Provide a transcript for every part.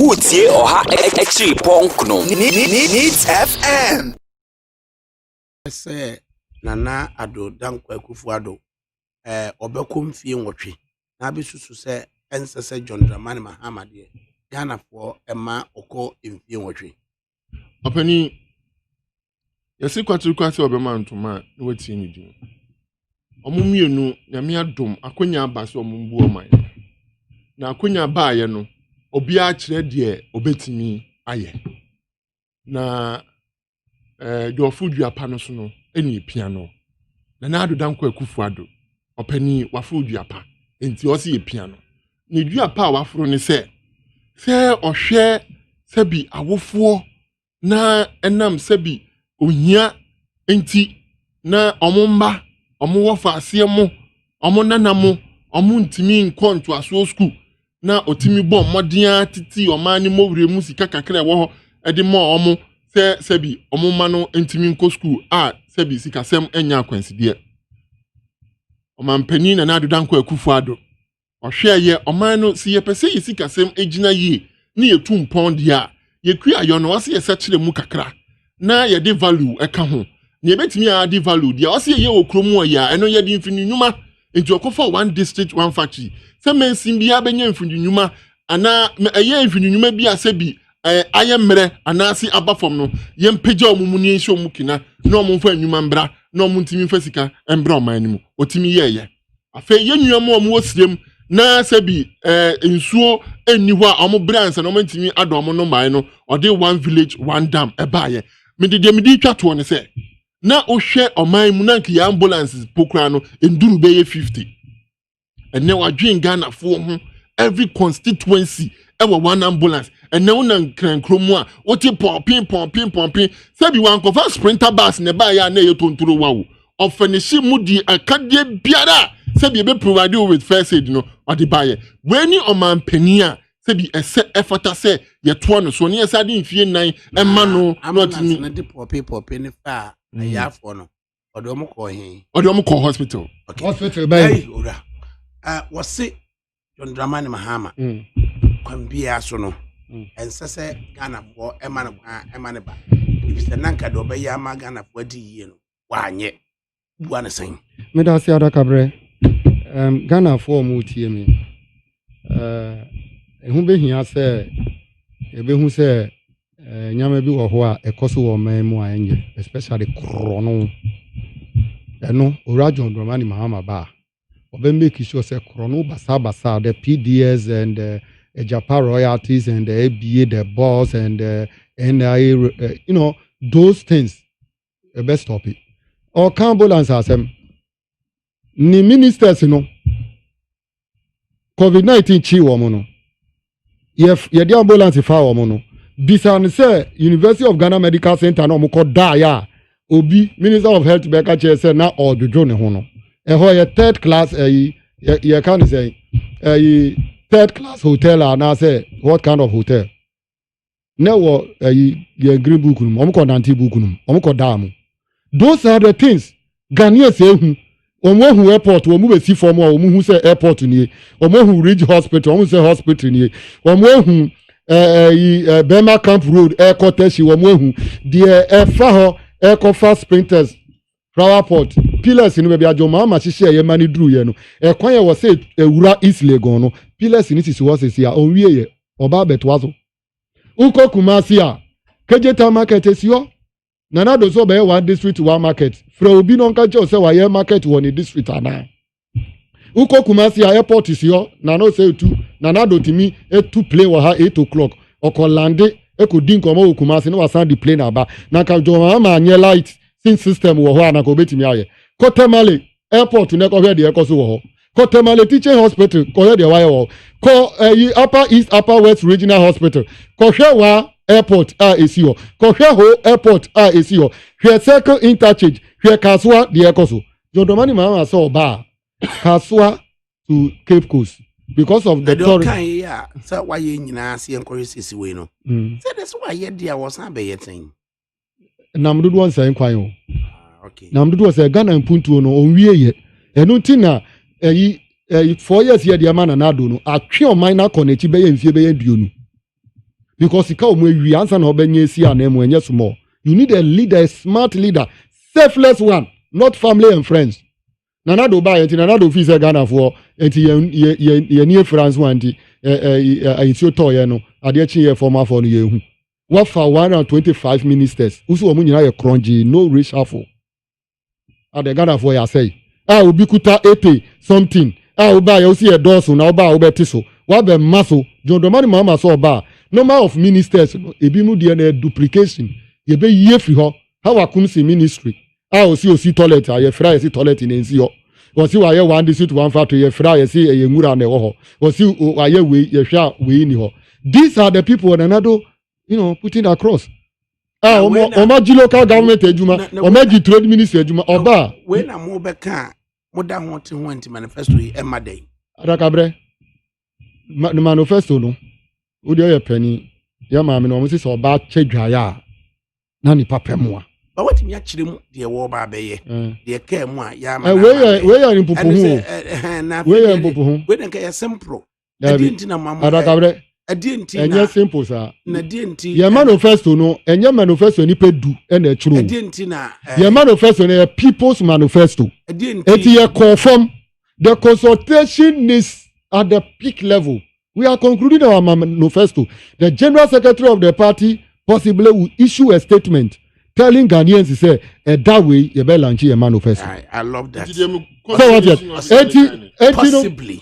Wotie ɔha akyiri pɔnk no Needs FM. Sɛ Nana Addo Dankwa Akufo-Addo eh, ɔbɛkɔ mfie nwɔtwe na abɛsusu sɛ ɛnsɛ sɛ John Dramani Mahama deɛ Ghanafoɔ ɛma ɔkɔ mfie nwɔtwe. Ɔpanin, yɛsi kwatir kwan sɛ ɔbɛma ntoma a na watie ne din wɔn mmienu nyame adom akonya aba sɛ wɔn mbu ɔman na akonya baayɛ no obiara kyerɛ deɛ ɔbɛtumi ayɛ na ɛɛ eh, dwɔfo duapa no so no ɛna epia no na n'adoda nkɔ akufo ado ɔpanyin waforo duapa nti ɔsi epia no ne duapa a waforo ne sɛ sɛ ɔhwɛ sɛbi awofoɔ na ɛnam sɛbi ohia nti na wɔn mma wɔn wɔ faaseɛ mo wɔn nana mo wɔn ntumi nkɔ ntoasoɔ sukuu na ɔtumi bɔ mmɔden ara tete ɔman ne mmɔwerɛ mu sika kakra ɛwɔ hɔ ɛde ma wɔn sɛ sɛbi wɔn mma no ntumi nkɔ sukuu a sɛbi sikasɛm anya akwansideɛ ɔmanpanin nana adodankɔ akufo ado Ɔhwɛ a yɛ ɔman no, sɛ yɛpɛ sɛ yɛ sikasɛm gyina yie na yɛtu mpɔn deɛ a, yɛkuayɔ no ɔsɛ yɛsɛkyerɛ mu kakra na yɛde value ka ho. Nea ɛbɛtumi a ade value deɛ ɔsɛ yɛyɛ wɔ kuro mu ɔyɛ a, ɛno yɛde mfini nnwuma nti ɔkɔfa one district one factory sɛ mansin biara bɛnya mfini nnwuma anaa ɛyɛ mfini nnwuma bi a sɛ bi eh, ayɛ mmerɛ anaase aba fam no yɛmpagya ɔmo mu ne yɛnhyɛ ɔmo kina na ɔmo mfa nnwuma mbra na ɔmo ntumi mfa sika mbra ɔman no mu ɔtumi yɛɛyɛ afei yɛn nua mu a wɔwɔ sirem na sɛ bi ɛɛ eh, nsuo nni hɔ a wɔn brɛ ansa na wɔn ntumi adɔ wɔn no mmae no ɔde one village one dam ɛbaayɛ mede deɛ mede twa toɔ no sɛ na wohwɛ ɔman mu na nka yɛ ambulance po koraa no nduru bɛyɛ fifty ɛnɛ wadwen ghanafoɔ ho every constituency ɛwɔ one ambulance ɛnɛ wo na nkrankuro mu a wote pɔnpen pɔnpen pɔnpen sɛbi wankɔfa sprinter bus na ɛbaayɛ a na ɛyɛ tontoro wa o ɔfɛnihye mu di akadeɛ biara a sɛbi ebe provide you with first aid no ɔde baayɛ wei ne ɔman panyin a sɛbi ɛsɛ ɛfata sɛ yɛtoa no so ne yɛsɛ ade mfie nnan ɛma no na ɔtumi de pɔpe pɔpe ne fa a mm. ayaafoɔ no ɔde ɔmo kɔ he ɔde ɔmo kɔ hospital hospital bɛyɛ owura wɔse John Dramani Mahama mm. kwan biara so no mm. ɛnsɛ sɛ Ghanafoɔ ɛma no kwan ɛma no ba efisɛ nanka deɛ ɔbɛyɛ ama Ghanafoɔ adi yie no wanyɛ bua no sɛn meda ase adakaberɛ um, ghanafoɔ ɔmo tie me uh, ɛho bɛhia sɛ yɛbɛhu sɛ uh, nneɛma bi wɔ hɔ a ɛkɔ so wɔ ɔman mu a ɛnyɛ especially korɔ no ɛno owura john dramani mahama ba a ɔbɛ make sure sɛ korɔ no basabasa the pds and the uh, japa royalties and the aba the boss and the nia uh, you know those things ɛbɛ stop it ɔka ambulance asɛm ne ministers no covid nineteen kyi wɔn no yɛde ambulance fa wɔn no bisa no sɛ university of ghana medical center na wɔn kɔ daeɛ a obi minister of health bɛka kyerɛ sɛ na ɔdwodwo ne ho no ɛhɔ yɛ third class ɛyi yɛ yɛka ne sɛ ɛyi third class hotel anaasɛ what kind of hotel. na ɛwɔ ɛyi yɛn green book no mu wɔn kɔ nante book no mu wɔn kɔ daa mu those are the things ghanaians ehu wɔn ehu airport wɔn bɛ si fam a wɔn hu sɛ airport nie wɔn ehu ridge hospital wɔn sɛ hospital nie wɔn ehu ɛyi ɛ bɛrima camp road ɛkɔ tɛsi wɔn ehu deɛ ɛfa hɔ ɛkɔ fa sprinters flower pot pillars no baabi adwommaa ma hyehyɛ ɛyɛ ma no duru yɛ no ɛkwan yɛ wɔ sɛ ewura east legon no pillars no sisi hɔ sisi a ɔnwie yɛ ɔba abɛtoa so wokɔ kumasi a kegyetan market esi hɔ nana do so ɔbɛyɛ one district one market frɛ obi na ɔnka kyerɛw sɛ wayɛ market wɔ ne district anaa. wokɔ kumasi a airport si hɔ na no sɛ etu na nado tumi etu plane wɔ ha eight o'clock ɔkɔ lande ekodi nkɔmɔ wɔ kumasi na wasan de plane aba na nka jɔn ama anyɛ light sin system wɔ hɔ a na nka obetumi ayɛ kɔtɛmale airport na ɛkɔhwɛ deɛ ɛkɔ so wɔ hɔ kɔtɛmale teaching hospital kɔhwɛ deɛ wayɛ wɔ hɔ kɔ ɛyi eh, upper east upper west regional hospital kɔhwɛ wa airport a esi hɔ kɔhwɛ ho airport a esi hɔ hwɛ circle interchange hwɛ kasoa deɛ ɛkɔ so. Jodoma ni maa sɛ ɔba a Kasoa to Cape Coast because of the tourist. Ɛdɔkan yi a sɛ wayɛ nyinaa sɛ yɛnkɔhwɛ sisi wei no. Mm. Sɛ de sɛ wayɛ de a wɔsan bɛyɛ tɛn. Nam dodoɔ nsɛn nkwan o. Ah, okay. Nam dodoɔ sɛ Ghana mpuntuo no ɔnwie yɛ. Ɛno nti na ɛyi ɛyi four years yɛ deɛ ma Nana Addo no atwe ɔman no akɔ n'akyi bɛyɛ mfie bɛyɛ aduonu. because sika wɔn awie ansa na ɔbɛnyɛ esi anan mu ɛnyɛ small you need a leader a smart leader selfless one not family and friends nana do baa yɛn ti nana do fi sɛ ghana foɔ nti yɛn yɛn yɛn yɛn ni efura nso anti ɛɛ ɛɛ ayisuo tɔɔ yɛn no adeɛ kyi yɛ fɔm afɔ no yɛn hu wafa one hundred and twenty five ministers wusu wɔn nyinaa yɛ korɔngye no reshuffle adɛ ghanafoɔ yɛ asɛe a obi kuta ete something a wobaa yɛ wosi yɛ dɔɔso na wobaa wobɛte so wabɛ mma so john dɔmani mahama sɛ ɔbaa number of ministers no ebi mu deɛ na duplication yɛbɛ yie firi hɔ ha wakom si ministry a ɔsi ɔsi toilet a yɛfira yɛsi toilet na nsi hɔ wɔsi wayɛ one district one factory yɛfira yɛsi ɛyɛ nwura na ɛwɔ hɔ wɔsi wayɛ wei yɛhwɛ a wei ni hɔ these are the people nanado you know putting across a wɔn agye local government adwuma wɔn agye trade minister adwuma ɔbaa. wei na mo bɛ ka a mo da ho te ho nti manifesto yi ɛma dɛ. adakabrɛ ma ne manifesto no o deɛ ɔyɛ panyin yɛ maame no wɔn sisi ɔbaa kyɛ dwaeɛ a na nipa pɛ mu a. ba watumi akyerɛ mu deɛ wɔɔba abɛyɛ eh. deɛ kaa mu a yɛ ama na ama yɛ ɛwei yɛ mpopo ho ɛwei yɛ mpopo ho wei na nka yɛ sɛmporo. ɛdeɛ nti na mamu adakabrɛ ɛdeɛ nti na ɛnyɛ simple saa na ɛdeɛ nti yɛn manifesto no ɛnyɛ manifesto nipa du ɛna ɛtwerɛ o ɛdeɛ nti na ɛɛ yɛn manifesto no yɛ people's manifesto ɛdeɛ nti eti yɛ kɔɔ fam the consultation is at the peak level we are concluding our manifesto the general secretary of the party possibly will issue a statement telling Ghanaians sɛ ɛda wei yɛbɛ lanche yɛn manifesto. I, I love that. Sɛ wɔn ti ɛti ɛti no.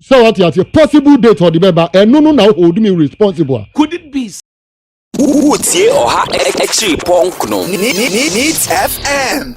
sɛ wate aseɛ possible date ɔde bɛba ɛno no na wo hold me responsible a could it be wotie ɔha akyiri pɔnkno neat fm